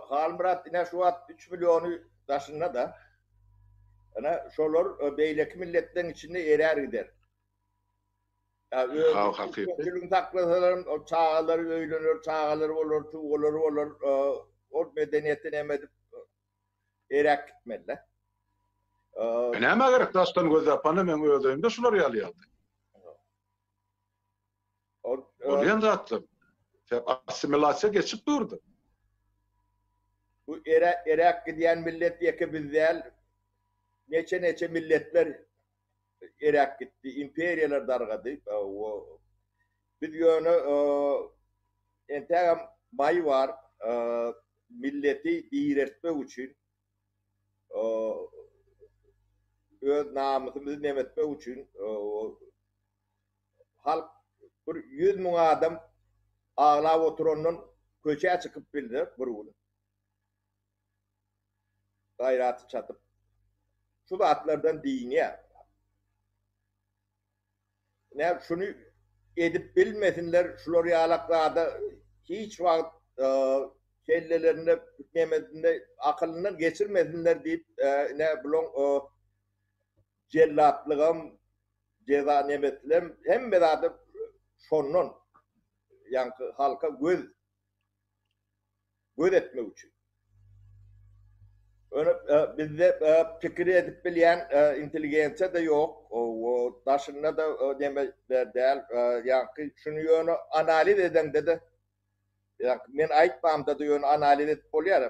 Halmyrat ine şu wagt üç milliony daşynda-da. Ine şolar beýleki milletleň içinde erär gider. Hawa hakyky. Düzgün saklasalaram ol çagalary öýlener, çagalary bolar, tugalary bolar, ol medeniýeti neme edip eräp gitmeli-de. Näme gerek daşdan göz ýapana meň öz öýümde şular ýaly ýagdaý. Bolýan zatlar. Sebäp assimilasiýa geçip durdy. Bu ere eräk gidýän millet ýeke biz däl. Neçe-neçe milletler eräk gitdi, imperiýalar dargady. Biz ýöne entägem maý bar, milleti diýreltmek üçin, öz namysymyzy nemetmek üçin Halk bir ýüz müň adam aglap oturandan köçä çykyp bildi bir gün. Gaýraty çatyp şu zatlardan dynýar. Ine şuny edip bilmesinler, şular ýalak zada hiç wagt kellelerinde piknemesinde akylyndan geçirmesinler diýip ine bulaň jellatlygam, Jeza neme tilem hemme zada şondan ýaňky halka göz göz etmek üçin. Öne bizde pikir edip bilýän intelligensiýa da ýok. O daşynda da neme däl. Ýaňky şuny ýöne analiz edeňde de ýa men aýtmamda da ýöne analiz edip bolýar.